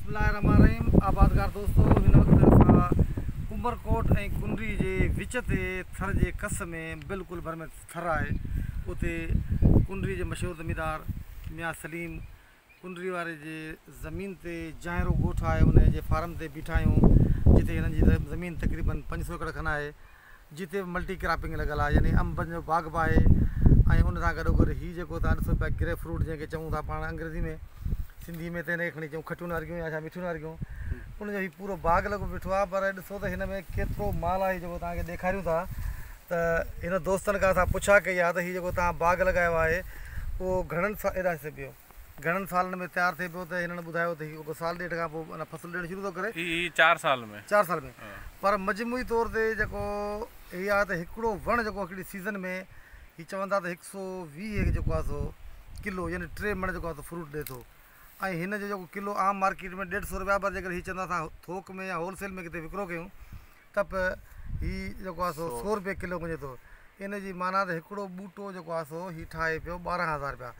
بسم الله الرحمن الرحيم آبادگار دوستو هن وقت اسان عمر ڪوٽ ۽ ڪنري جي وچ تي ٿر جي ڪس ۾ بلڪل ڀر ۾ ٿر آهي اتي ڪنري جي مشهور زميندار ميان سليم ڪنري واري جي زمين تي جانئرو ڳوٺ آهي انهن جي فارم تي بيٺا آهيون جتي هنن جي زمين تقريبن پنج سو ايڪڙ کن آهي جتي به ملٽي ڪراپنگ لڳل آهي يعني انبن جو باغ به آهي ۽ ان سان گڏو گڏ هي جيڪو توهان ڏسو پيا گريپ فروٽ جنهن کي چئون ٿا پاڻ انگريزي ۾ سنڌي ۾ ته هن کي کڻي چئون کٽيون نارنگيون يا ڇا مٺيون نارنگيون ان جو هي پورو باغ لڳو بيٺو آهي پر ڏسو ته هن ۾ ڪيترو مال آهي جيڪو توهان کي ڏيکاريون ٿا ته هن دوستن کان اسان پڇا ڪئي آهي ته هي جيڪو توهان باغ لڳايو آهي اهو گهڻن سا ايڏا سبيو گهڻن سالن ۾ تيار ٿئي پيو ته هنن ٻڌايو ته هي رڳو سال ڏيڍ کان پوء ان فصل ڏيڻ شروع ٿو ڪري. هي هي چار سال ۾. چار سال ۾. پر مجموعي طور تي جيڪو هي آهي ته هڪڙو وڻ جيڪو هڪڙي سيزن ۾ هي چون ٿا ته هڪ سو ويهه جيڪو آهي سو ڪلو يعني ٽي مڻ جيڪو آهي سو فروٽ ڏي ٿو ۽ هن جو جيڪو ڪلو عام مارڪيٽ ۾ ڏيڍ سو رپيا پر جيڪڏهن هي چوندا اسان ٿوڪ ۾ يا هول سيل ۾ ڪٿي وڪرو ڪيون ته به هي جيڪو آهي سو سؤ رپيه ڪلو مڃي ٿو. ان جي معنيٰ ته هڪڙو ٻوٽو جيڪو آهي سو هي ٺاهي پيو ٻارهن هزار رپيا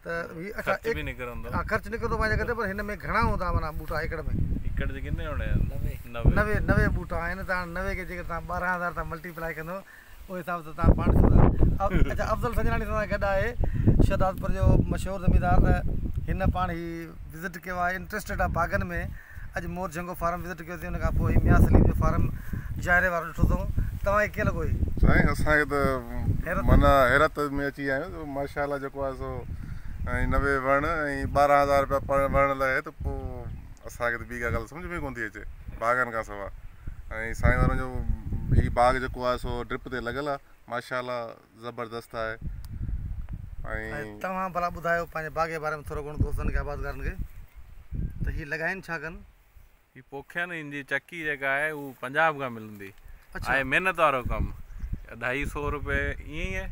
ته هي اڇا خرچ به نڪرندو ها خرچ نڪرندو پنهنجي جڳهه تي پر هن ۾ گهڻا هوندا معنيٰ ٻوٽا ايڪڙ ۾ ايڪڙ جي ڪتنا هوندا آهن نوي نوي نوي ٻوٽا آهن ته هاڻي نوي کي جيڪڏهن توهان ٻارهن هزار سان ملٽي پلائي ڪندو ان حساب سان تان پاڻ ڏسو ٿا اچا افضل سنجراڻي سان گڏ آهي شهدادپور جو مشهور زميندار ته هن پاڻ هي وزٽ ڪيو آهي انٽرسٽيڊ آهي باغن ۾ اڄ مور جهنگو فارم وزٽ ڪيو اٿئين ان کان پوء ميان سليم جو فارم جاهري وارو ڏٺو اٿئون توهان کي ڪيئن لڳو هي سائين اسان کي ته من حيرت ۾ اچي ويا آهيون ماشاءالله جيڪو آهي سو ۽ نوي وڻ ۽ ٻارهن هزار روپيا پر وڻ لڳائي ته پوء اسان کي ته ٻي ڪا ڳالهه سمجهه ۾ ڪونه ٿي اچي باغن کان سوا ۽ سائين وارن جو هي باغ جيڪو آهي سو ڊرپ تي لڳل آهي ماشاء الله زبردست آهي ۽ توهان ڀلا ٻڌايو پنهنجي باغ جي باري ۾ ٿورو گهڻو دوستن کي آبادگارن کي ته هي لڳائين ڇا ڪن هي پوکين هن جي چڪي جيڪا آهي هو پنجاب کان ملندي آهي محنت وارو ڪم اڍائي سو روپيه ائين